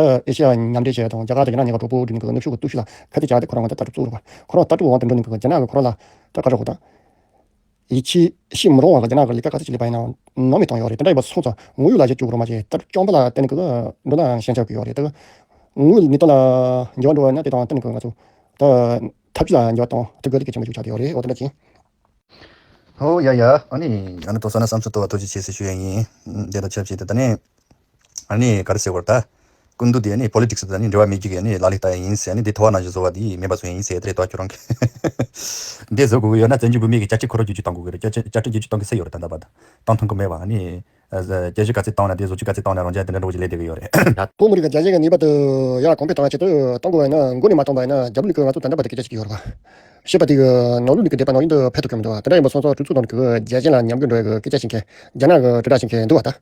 ཨེ་ཤེ་ཡ་མཉམ་འབྲེལ་བཅས་དང་རྒྱ་གར་དང་རྒྱ་ནག་གཉིས་ཀ་གྲོགས་པོ་བསྒྲིགས་ནས་ནུབ་ཕྱོགས་ཀྱི་སྟོབས་ཤུགས་ལ་ཁ་གཏད་བཅག་སྟེ་ཁོ་རང་དབང་ཆ་ལྟ་གྲུབ་བཙུགས་རོགས། ཁོ་རང་རྟ་གྲུབ་དབང་དུ་འགྲོ་ནས་རྒྱ་ནག་གི་ཁོ་རང་ལ་སྐྲ་བཀར་རོགས་དང། ཡིད་ཆེས་མི་རུང་བ་ལ་རྒྱ་ནག་གི་ལས་ཀ་ག་ཚོད་བྱེད་ལས་པ་ཡིན་ནའང་ནོར་མེད་གཏོང་ཡོད་རེད་དེ་འདྲ་ཡོད་པ་སོང་ཙང་དངུལ་ཡོད་ལ་གཞས་བཅུག་རོགས་མ་གཞས་ལྟ་གྲུབ་སྐྱོང་པ་ལ་གཏན་ནས་གོ་བསྡུར་ལ་ཞེན་ཆགས་དགོས་ཡོད་རེད་དེ། དངུལ་མི་གཏོང་ལ་འགྱེལ་བ་འགྲོ་བ་ནི་དེ་དང་གཏན་ནས་གོ་ང་ཚོ་ཐབས་ཇུས་ལ་འགྱེལ་བ་དང་དེ་དགོས་ལས་ཀའི་ཆེད་མ་བཅུག་ཆགས་ཀྱི་ཡོད་རེད་འོ་དེ་འདྲ་ཅིང། ཧོ། ཡ་ཡ། ཨ་ནི། ཡང་ན་དོ་ས་ན་བསམ་ཚུལ་དོ་བ་ཐོ་ཅི་བྱེད་ཟེར་ཞུ་ཡ་ཡིན། འདས་ལོ་ཆབ་བྱས་ཏེ་ད་ནས། ཨཱ་ནི་ག་རེ་ཟེར་བར་ད། ཀུན་ཏུ་དེ་ནི Politics དང་ནི་འབྲེལ་བ་མེད་རྒྱུ་གས་ནི་ལ་ལི་ད་ཡ་ཡིན་ཟེར་ནི་དེ་ཐོ་བ་ན་བཞི་བཟོ་བ་དེ་མེད་པ་བཟོ་ཡ་ཡིན་ཟེར་དེ་རེད་དོ་ཁྱོད་རང་གིས་དེ་བཟོ་དགོས་ཀྱི་ཡོད་ན་བཙན་བྱོལ་བོད་མིའི་གི་བཅའ་ཁྲིམས་ཁོ་ར་རྒྱུ་རྒྱུ་གཏང་དགོས་ཀྱི་རེད་བཅའ་ཁྲིམས་རྒྱུ་རྒྱུ་གཏང་གི་སེ་ཡོད་རེད་ད་ད་བ་ད་གཏང་ཐུང་གི་མེད་བ་ཨཱ་ནི། རྒྱལ་གཞུ་ག་ཚད་གཏང་ན་དེ་བཟོ་རྒྱུ་ག་ཚད་གཏང་ན་རང་རྒྱལ་དེ་འདྲ་འགྲོ་གི་ལེ་དེ་གི་ཡོད་རེད་ད། བོད་མི་རིགས་ག་རྒྱ་གཞས་ག་ངེས་པ་དུ་ཡ་གོང་འཕེལ་གཏང་ཡ་ཆེད་དུ་གཏང་དགོས་བ་ཡིན་ན་མགོ་ནས་མ་གཏང་བ་ཡིན་ན་རྒྱ་བོད་མི་ཀུན་ང་ཚོ་དེ་འདྲ་བ་དེ་གི་བཅའ་ཅིག་གི་ཡོད་རེད་བ། ཞེས་པ་དེ་གི་ནང་ལུགས་ནི་གི་འདེད་པ་ནང་ཡིན་དུ་ཕལ་དུ་ཁྱོད་མི་འདུག་བ་དེ་འདྲ་ཡིན་པ་སོང་སོང་གྲུ་ཚུགས་ནང་གི་གི་རྒྱལ་གཞས་ལ་ཉམས་གུད་འགྲོ་ཡ་གི་སྐད་ཆ་བྱིན་གི་རྒྱ་ནག་གི་གྲུ་དྲ་བྱིན་གི་འདུག་བ་ད།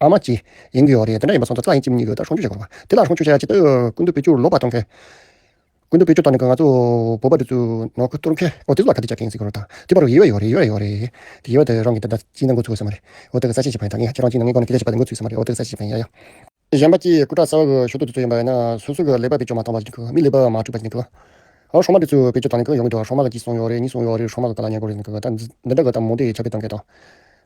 ཨ་མ་ཀྱིས། ཡིན་གྱི་ཡོད་རེད། དེ་འདྲ་ཡིན་པ་སོང་ཙང་ཙི་ལ་ཡིན་གཅིག་མིན་གཉིས་ཡོད་དོ་ཧྲོང་ཆུ་བཞག་དགོས་པ། དེ་ལ་ཧྲོང་ཆུ་བཞག་ཅིག་ལྟོས། ཀུན་དུ་སྤོས་སྐྱུར་ལོག་པར་གཏོང་མཁན། ཀུན་དུ་སྤོས་སྐྱུར་གཏོང་ནས་ང་ཚོ་བོད་པ་འདི་ཚོས་ནོར་འཁོལ་གཏོར་མཁན། འོ་དེ་ཚོ་ལ་ཁ་གཏད་བཅག་མཁན་ཟེར་གི་རོ་དང། དེ་པར་ཡིད་བ་ཡོད་རེད་ཡིད་བ་ཡོད་རེད། དེ་ཡིད་བ་དེ་རང་གིས་འདི་ལྟར་ཅིག་ན་འགོ་ཚུགས་དགོས་ས་མ་རེད། འོ་དེ་གི་གསར་བཤད་བྱེད་པ་ཡིན་ད་ངས་ཁྱེད་རང་ཅིག་ན་ངའི་སྒོ་ནས་དེ་ལྟར་བྱེད་པ་དེ་འགོ་ཚུགས་ས་མ་རེད་འོ་དེ་གི་གསར་བཤད་བྱེད་པ་ཡིན་ཡ་ཡ། གཞན་པ་ཀྱིས་སྐུ་དྲག་གསར་བ་གི་ཞོ་དུག་དེ་ཚོ་ཡིན་པ་ཡིན་ན་སོ་སོ་གི་ལེགས་པ་བེད་སྤྱོད་མ་གཏོང་བར་ནི་གི་མི་ལེགས་པ་མ་སྤྲོད་པར་ནི་གི། ཨོ་ཧྲོང་མ་དེ་ཚོས་བེད་སྤྱོད་བཏང་ནི་གི་ཡོང་གི་འདུག་ཧྲོང་མ་ག་གཅིག་སོང་ཡོད་རེད་གཉིས་སོང་ཡོད་རེད་ཧྲོང་མ་ག་ག་ལ་ཉེར་དགོས་རེད་ནི་གི་ད་འདི་འདྲ་གི་ད་མོ་དེ་ཁྱབ་སྤེལ་གཏོང་མཁན་དང།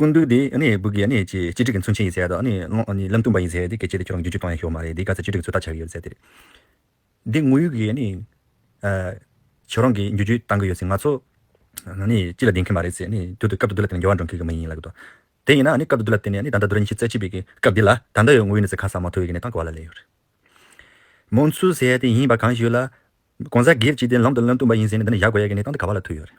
ཀུན་འདུས་དེ་སྦུག་གི་སྤྱི་སྒྲིག་གི་མཚོན་བྱེད་ཡིན་ཟེར་ཡ། ལམ་སྟོན་པ་ཡིན་ཟེར་ཡ། སྐད་ཆ་དེ་ཁྱོད་རང་བརྒྱུད་བཅུག་གཏོང་ཡ་ཤོག་མ་རེད་དེ་ག་ཚད་སྤྱི་སྒྲིག་ཚོད་ལྟ་བྱ་གི་ཡོད་ཟེར་དེ། འདི་དངོས་ཡོད་ཀྱི་ཁྱོད་རང་གིས་བརྒྱུད་བཅུག་གཏང་གི་ཡོད་ཟེར་ང་ཚོ་སྤྱི་ལ་བདེན་ཁྱོད་མ་རེད་ཟེར་ཡ། དུས་དེར་སྐབས་དུ་དུ་ལ་བརྟེན་ནས་འགལ་བ་འགྲོ་མཁན་གི་མི་ཡིན་ལ། དེ་ཡིན་ན་སྐབས་དུ་དུ་ལ་བརྟེན་ནས་ད་ལྟ་དུ་ར་ཉི་ཤུ་རྩ་གཅིག་པའི་སྐབས་འདི་ལ་ད་ལྟ་ཡོད་དངོས་ཡོད་ནི་ཟེར་ཁ་གསལ་མ་ཐོ་ཡོད་ཀྱི་གནས་སྟངས་གོ་བ་ལ་ལས་ཡོད་རེད། མོ་མཚུར་ཟེར་ཡ་དེ་ཡིན་པ་གང་ཞིག་ཡོད་ལ། གོང་ས་སྒེར་གྱིས་དེ་ལམ་དུ་ལམ་སྟོན་པ་ཡིན་ཟེར་ནས་འདི་ནས་བཞག་དགོས་ཡ་ཀྱི་གནས་སྟངས་འདི་ག་བ་ལ་ཐུག་ཡོད་རེད།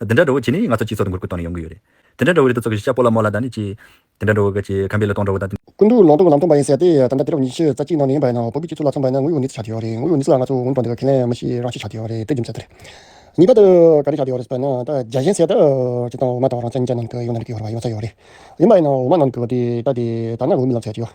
དེ་འདྲ་འགྲོ་བོ་བྱེད་ནི་ང་ཚོ་སྤྱི་ཚོགས་དང་གུར་ཁུལ་ཐོག་ནས་ཡོང་གི་ཡོད་རེད། དེ་འདྲ་འགྲོ་བོ་རེད་དོ་ཚོགས་ཀྱི་ཤ་པོ་ལ་མོ་ལ་ད་ནི་ཅི། དེ་འདྲ་འགྲོ་བོ་ག་ཅི་གམ་པའི་ལ་དོང་འགྲོ་བོ་ད། ཀུན་ཏུ་ལོག་འགྲོ་བ་ལམ་སྟོན་པ་ཡིན་ཟེར་ཏེ་ད་ལྟ་དུས་རབས་ཉི་ཤུ་རྩ་གཅིག་ནང་ནས་ཡིན་པ་ཡིན་ན་འུ་གུ་སྤྱི་ཚོགས་ལ་མཚོན་པ་ཡིན་ན་ངུ་ཡོ་ནི་ཚིག་ཆགས་ཀྱི་ཡོད་རེད་ངུ་ཡོ་ནི་ཚིག་ལ་ང་ཚོ་འུ་འགྲོ་འདི་ག་ཁས་ལེན་མི་ཤེས་རང་ཤེས་ཆགས་ཀྱི་ཡོད་རེད་དེ་རྒྱུ་མཚན་དེ་རེད། ངེས་པར་དུ་ག་རེ་ཆགས་ཀྱི་ཡོད་རེད་ཟེར་ན་ད་རྒྱ་གཞན་ཟེར་ད་ཅི་དང་འོ་མ་དང་རང་བཙན་བཅས་ནང་དུ་ཡོང་ན་འགྲིག་གི་ཡོད་རེད། ཡིན་པ་ཡིན་ན་འོ་མ་ནང་དུ་འདི་ལྟ་དེ་ལྟ་ན་འུ་མི་ལ་མཚོན་ཡོད་ཀྱི་ཡོད།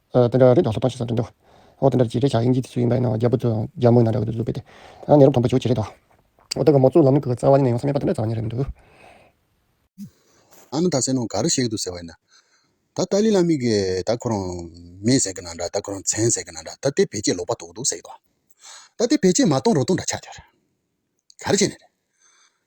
དེ་འདྲ་རེད་འདྲ་སློབ་སྟངས་ཤིག་བཟང་དོན་འདུག་འོ་དེ་འདྲ་རེད་བྱས་ཆ་དབྱིན་ཇི་ཚོས་ཡིན་པ་ཡིན་ནའང་རྒྱ་བོད་ཚོས་རྒྱ་དམག་ནང་འདྲ་གི་འདུག་བཟོ་བོད་དེ་ནས་རུ་ཕམ་པ་བྱོས་བྱས་རེད་འདུག་འོ་དེ་ག་མོ་གཙུག་ལམ་གི་གི་རྩ་བ་ནས་ཡོང་ས་མེད་པ་དེ་འདྲ་བཟང་བ་ཉིད་རེད་འདུག། ཨ་མ་ད་ཟེར་ནོ་ག་རུ་གཤེགས་འདུག་ཟེར་བ་ཡིན་ན། ད་ཏཱ་ལི་བླ་མི་གིས་ད་ཁོ་རང་མེད་ཟེར་གི་ན་འདྲ་ད་ཁོ་རང་བཙན་ཟེར་གི་ན་འདྲ་ད་དེ་བེད་སྤྱད་ལོག་པ་དོག་འདུག་ཟེར་གི་འདུག་ད་དེ་བེད་སྤྱད་མ་གཏོང་རོགས་གཏོང་འདྲ་ཆགས་ཀྱི་རེད། ག་རེ་བྱས་ནས་རེད།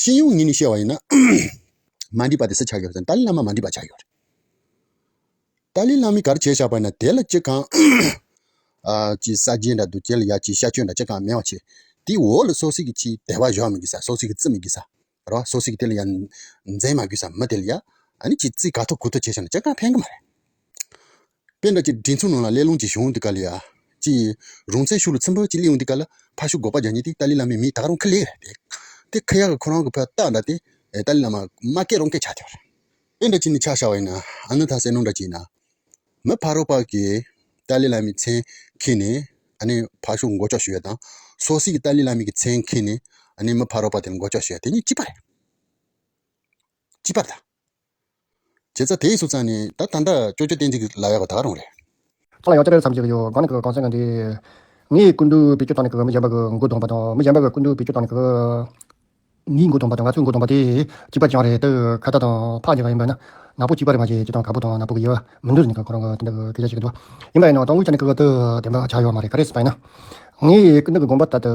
ཤེས་ཡོན་ངོས་ནས་བཤད་པ་ཡིན་ན། མ་འདྲིས་པ་དེ་སུ་ཆགས་ཡོད་དམ་ཏཱ་ལའི་བླ་མ་མ་འདྲིས་པ་ཆགས་ཡོད་རེད། ཏཱ་ལའི་བླ་མས་གར་བྱས་ཆགས་པ་ཡིན་ན་དེ་ལ་ཅི་གང། ཅི་ས་རྗེས་འདྲ་འདུག་དེ་ལ་ཡ་ཅི་ཤ་ཆོད་འདྲ་ཅི་གང་སྨྲེང་བ་བྱེད། དེའི་འོག་ལ་སོ་སི་གི་ཆེས་དད་པ་གཞོག་མི་དགོས་ས་སོ་སི་གི་བརྩི་མི་དགོས་ས་རེད་བ། སོ་སི་གི་དེ་ལ་ཡ་འཛེམ་མ་དགོས་ས་མི་དེ་ལ་ཡ། ཨ་ནི་ཁྱེད་བརྩི་ག་ཐུབ་གུ་ཐུབ་བྱས་ཆགས་ན་ཅི་གང་ཕན་གི་མ་རེད། དཔེ་འདྲ་གཅིག་སྒྲིག་མཚོའི་ནང་ལ་གླེ་སློང་གྱི་ཤོག་འདི་ག་ལས། ཅི་ཡིན། རུང་ཚད་ཤུགས་ལ་ཚིམ་པོ་གཅིག་གླེའུ་འདི་ག་ལ་ཕ་ཤུགས་འགོག་པ་རྒྱག་ཉེ་དེ་ཏཱ་ལའི་བླ་མའི་མི་དག་རང་ཁ་ལས་རེད་འདུག་དེ་ཁ་ཡག་གི་ཁོ་རང་གི་ཕ་རྟགས་འདྲ་སྟེ། ཏཱ་ལའི་བླ་མ། མ་སྐད་རང་སྐད་ཆགས་ཐལ། དཔེ་འདྲ་གཅིག་ནི་ཆགས་ཤ་བ་ཡིན། ཨ་ནུ་དྷ་སའི་ནོར་འདྲ་གཅིག་ཡིན། མི་ཕ་རོག་པ་གིས་ཏཱ་ལའི་བླ་མའི་མཚན་འཁེལ་ནས། ཨ་ནི་ཕ་ཤུགས་མགོ་ལྕོག་ཞུ་བ་དང། སོ་སི་གིས་ཏཱ་ལའི་བླ་མའི་གི་མཚན་འཁེལ་ནས། ཨ་ནི་མི་ཕ་རོག་པ་དེར་མགོ་ལྕོག་ཞུ་བ་དེ་གཉིས་གཅིག་པ་རེད། གཅིག་པ་དང། བྱེད་རྩ་དེས་སུ་བཙལ་ནས་ད་ད་ད་ཅོ་ཅོ་བསྟན་འཇིག་ལ་ཡག་པ་ད་རུང་རེད། ཁ་ལ་ཡང་ཅི་རེད་བསམ་གྱི་ཡོད་དགོངས་ནས་གང་བསམ་གང་བྱེད། ངའི་སྐུ་མདུན་བེད་སྤྱོད་བཏང་ནས་མི་གཞན་པ་གི་མགོ་རྡུང་བ་དང་མི་གཞན་པ་གི་སྐུ་མདུན་བེད་སྤྱོད་བཏང་ནས་ངའི་མགོ་རྡུང་བ་དང་ང་ཚོའི་མགོ་རྡུང་བ་དེ་གཅིག་པ་ཅང་རེད་དེ་ཁ་བརྡ་དང་ཕག་འཇགས་ཡིན་པ་ནི་ནག་པོ་གཅིག་པ་རེད་མ་གཞི་སྤྱི་དང་ག་པོ་དང་ནག་པོ་གི་དབྱེ་བ་མི་འདུག་ཟེར་ནས་ཁོ་རང་གི་དེ་འདྲ་གི་སྐད་ཆ་ཞིག་གི་འདུག་པ་ཡིན་པ་ཡིན་ནའང་ཏང་ཨུའི་ཆ་ནས་ཁག་ཐེག་བདེན་པ་ཆགས་ཡོད་མ་རེད་ག་རེ་སྤེལ་ན་ངའི་སྐུ་མདུན་གྱི་དགོངས་པ་ལྟར་དུ།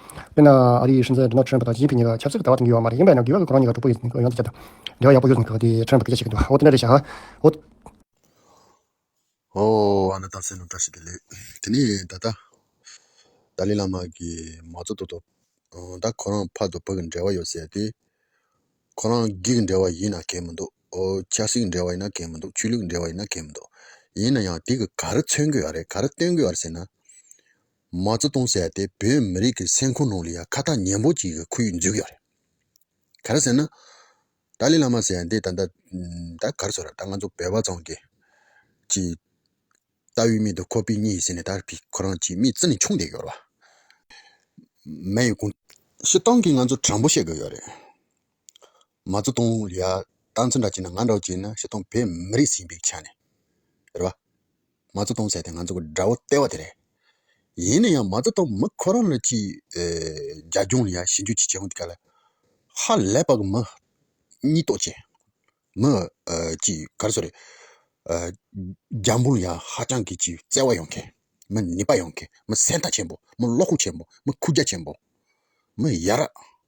དཔེར་ན། ཨ་རིའི་སྲིད་འཛིན Donald Trump དང་ཞི་ཅིན་ཕིན་གཉིས་ཀ་ཆབ་སྲིད་ཀྱི་ལྟ་བ་དེང་གི་ཡོད་པ་མ་རེད་ཡིན་པས་ན་འགལ་བ་ཁོ་རང་གཉིས་ཀ་གྲོགས་པོ་ཡིན་ཡོང་ཡོང་དུ་ཁྱབ། འགལ་བ་ཡག་པོ་ཡོད་ཟེར་མཁན་ཁོ་དེས Trump ལ་སྐད་ཆ་བཤད་ཀྱི་འདུག་ཨོ་དེ་འདྲ་རེད་ཤག་ཨོ། ཨོ། ཨ་ན་ཏང་སེ་སློབ་གྲྭ་ཞིག་གི་ལས། དེ་ནས་ད་ལྟ། ཏཱ་ལི་བླ་མ་གིས་མའོ་ཙོ་ཏོ་ཏོ། ད་ཁོ་རང་ཕར་དུ་བོད་ཀྱི་འབྲེལ་བ་ཡོད་ཟེར་ཏེ། ཁོ་རང་སྒེར་གྱི་འབྲེལ་བ་ཡིན་ན་གལ་མི་འདུག་ཨོ། ཆབ་སྲིད་ཀྱི་འབྲེལ་བ་ཡིན་ན་གལ་མི་འདུག་ཆོས་ལུགས་ཀྱི་འབྲེལ་བ་ཡིན་ན་གལ་མི་འདུག། ཡིན་ན་ཡང་དེ་གི་ག་རེ་མཚོན་དགོས་ཨ་རེད་ག་རེ་བསྟོན་དགོས་ཨ་རེད་ཟེར་ན། མ་བཙུ་གཏོང་སའི་དེ་བོད་མི་རིགས་ཀྱི་སེམས་ཁོང་ནང་ལ་ཡང་ཁ་ཐག་ཉན་པོ་ཅིག་གི་ཁུལ་འཇུག་ཡོད་རེད། ག་རེ་ཟེར་ན། ཏཱ་ལའི་བླ་མ་ཟེར་ཡ་འདི་ད། ད་ག་རེ་ཟེར་རོ་ད་ང་ཚོ་བོད་པ་ཚང་གི། ཀྱི། ལྟ་བའི་མིང་དུ་ཁོ་པི་གཉིས་ཟེར་ནས་ད་ཕི་ཁོ་རང་ཀྱི་མི་བཙི་ནས་ཆུང་བསྡད་ཡོད་རེད། མེ་ཡི་ཀུན། ཤི་སྟངས་ཀྱི་ང་ཚོ་དྲང་པོ་བཤད་དགོས་ཡོད་རེད། མ་བཙུགས་གཏོང་ལུགས་ལ་ལྟ་མཚོན་འདྲ་བྱས་ན་ང་འདྲ་བོ་བྱས་ན་ཕྱིར་གཏོང་བོད་མི་རིགས་ཞེན་པའི་ཆ་ནས་རེད་པ། མ་བཙུགས་གཏོང་བྱས་ཏེ་ང་ཚོ་གི་དགྲ་བོ་ལྟེ་བ་དེ་རེད། ཡིན་ན་ཡང་མ་བཙུགས་གཏོང་མི་ཁོ་རང་ལ་ཅི། རྒྱ་གཞུང་ལ་ཡང་ཞིབ་འཇུག་བྱེད་བྱེད་མོ་དེ་ག་ལ། ཧ་ལས་པ་གི་མི། གཉིས་རྟོག་བྱེད། མི། ཅི་ག་རེ་སོགས་རེད། རྒྱ་འབུར་ཡང་ཧ་ཅང་གི་ཅི་བརྩེ་བ་ཡོང་མཁན། མི་ནུས་པ་ཡོང་མཁན། མི་སེམས་ཐག་ཆེན་པོ། མི་བློ་ཁུག་ཆེན་པོ། མི་ཁུག་རྒྱ་ཆེན་པོ། མི་ཡ་རབས།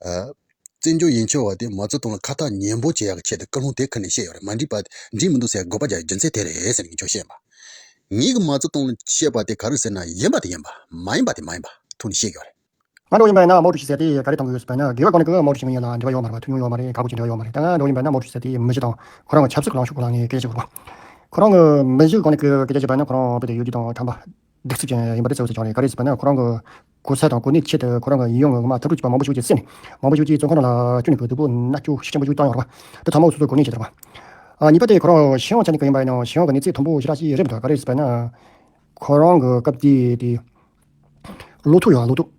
བཙན་བྱོལ་ཡིན་ཆོས་བ་དེ་མ་རྩོད་གཏོང་ལ་ཁ་ཐག་ཉན་པོ་བྱེད་ཡག་ཆེད་དུ་བཀའ་ལུང་དེ་ཁ་ནས་བཤད་ཡོད་རེད་མ་འགྲིག་པ་འགྲིག་མི་འདུག་ཟེར་དགོས་པ་རྒྱུ་མཚན་དེ་རེད་ཟེར་གྱི་ཆོག་བཤད་མ་ཉན་གི་མ་རྩོད་གཏོང་ལ་བཤད་པ་དེ་ག་རེ་ཟེར་ན་ཡིན་པ་དེ་ཡིན་པ་མ་ཡིན་པ་དེ་མ་ཡིན་པ་ཐུགས་ནས་ཤེས་ཡོད་རེད། ང་འབྲོག་ཡིན་པས་ན་མའོ་ཀྲུའུ་ཞི་ཟེར་དེ་ག་རེ་གཏོང་གི་ཡོད་ཟེར་བས་ན་དགེ་བའི་སྒོ་ནས་ཀྱི་མའོ་ཀྲུའུ་ཞི་མི་ཡིན་ལ་འབྲེལ་བ་ཡོད་མ་རེད་ཐུགས་མྱོང་ཡོད་མ་རེད་ག་གོ་ཅི་འབྲེལ་བ་ཡོད་མ་རེད་ད་ང་འབྲོག་ཡིན་པས་ན་མའོ་ཀྲུའུ་ཞི་ཟེར་དེ་མི་བཞི་དང་ཁོ་རང་གི་ཆབ་སྲིད་གི་ལངས་ཕྱོགས་གོ་ལངས་ནས་སྐད་ཆ་བཤད་དགོས་པ་ཁོ་རང་གི་མི་བཞི་གི་སྒོ་ནས་ཀྱི་སྐད་ཆ་བཤད་པ་ནི་ཁོ་རང་བོད་དུ་ཡུལ་དུས་དང་གྲངས་པ་སྡིག་སྲིབ་ཅན་ཡིན་པ་དེ་ཚོའི་ཚོ་ཆུང་རེད་ག་རེ་ཟེར་བ་ན་ཁོ་རང་གི་གོ་ཚད་དང་གོ་གནས་ཀྱི་ཆེད་དུ་ཁོ་རང་གི་ཡིད་ཡོང་ངོ་མ་ཐབས་སྒྲུག་བྱེད་པ་མང་པོ་ཞིག་གི་སེམས་ནས་མང་པོ་ཞིག་གིས་ཚོ་ཁོ་རང་ལ་ཅུ་ནི་གོས་བདུག་པོ་སྣ་ཅུ་ཤི་ཆེན་པོ་ཅུ་བཏང་ཡོང་རོགས་པ་དེ་ཚང་མ་སོ་སོའི་གོ་གནས་ཀྱི་ཐོག་གཉིས་པ་དེ་ཁོ་རང་ཞི་ཡོང་ཆ་ནི་ག་ཡིན་པ་ཡིན་ནའང་ཞི་ཡོང་གི་གནས་ཚད་དང་པོ་ཞེ་དྲག་ཅིག་རེད་མི་འདུག་ག་རེ་ཟེར་བ་ན་ཁོ་རང་གི་སྐབས་དེའི་ལོ་ཐུག་ཡོང་ལོ་ཐུག།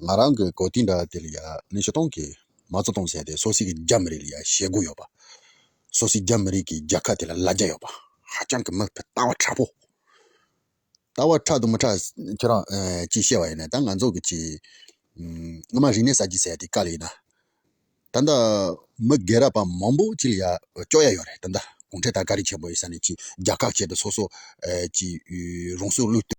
ང་རང་གི་གོ་ཐིག་འདྲ་དེ་ལ་ཡ་ནི་ཆུ་སྟོང་གིས་མ་བཙོ་སྟོང་བྱས་ཏེ་སོ་སིའི་རྒྱ་མི་རིགས་ལ་ཡ་ཞེ་དགུ་ཡོད་པ། སོ་སིའི་རྒྱ་མི་རིགས་ཀྱི་རྒྱལ་ཁ་དེ་ལ་ལ་བརྒྱ་ཡོད་པ། ཧ་ཅང་གི་མི་ཕལྟ་བ་ཁྲ་པོ། ལྟ་བ་ཁྲ་དང་མི་ཁྲ་ཁྱོད་རང་ཀྱིས་ཤེས་པ་ཡིན་ནའི་ད་ང་ཚོ་གིས་ངོ་མ་རིག་གནས་གསར་བརྗེ་བྱས་ཏེ་དཀའ་ལས་ཡིན་ན། ད་ལྟ་མི་རྒས་རབས་པ་མང་པོ་གཅིག་ལ་ཡ་བཅོ་ཡ་ཡོད་རེད་ད་ལྟ་གུང་ཁྲན་ཏང་དཀའ་རིགས་ཆེན་པོ་ཡིན་ས་ནས་ཀྱིས་རྒྱལ་ཁ་བྱས་ཏེ་སོ་སོ་ཀྱིས་རང་སྲོག་བློས་བཏོན།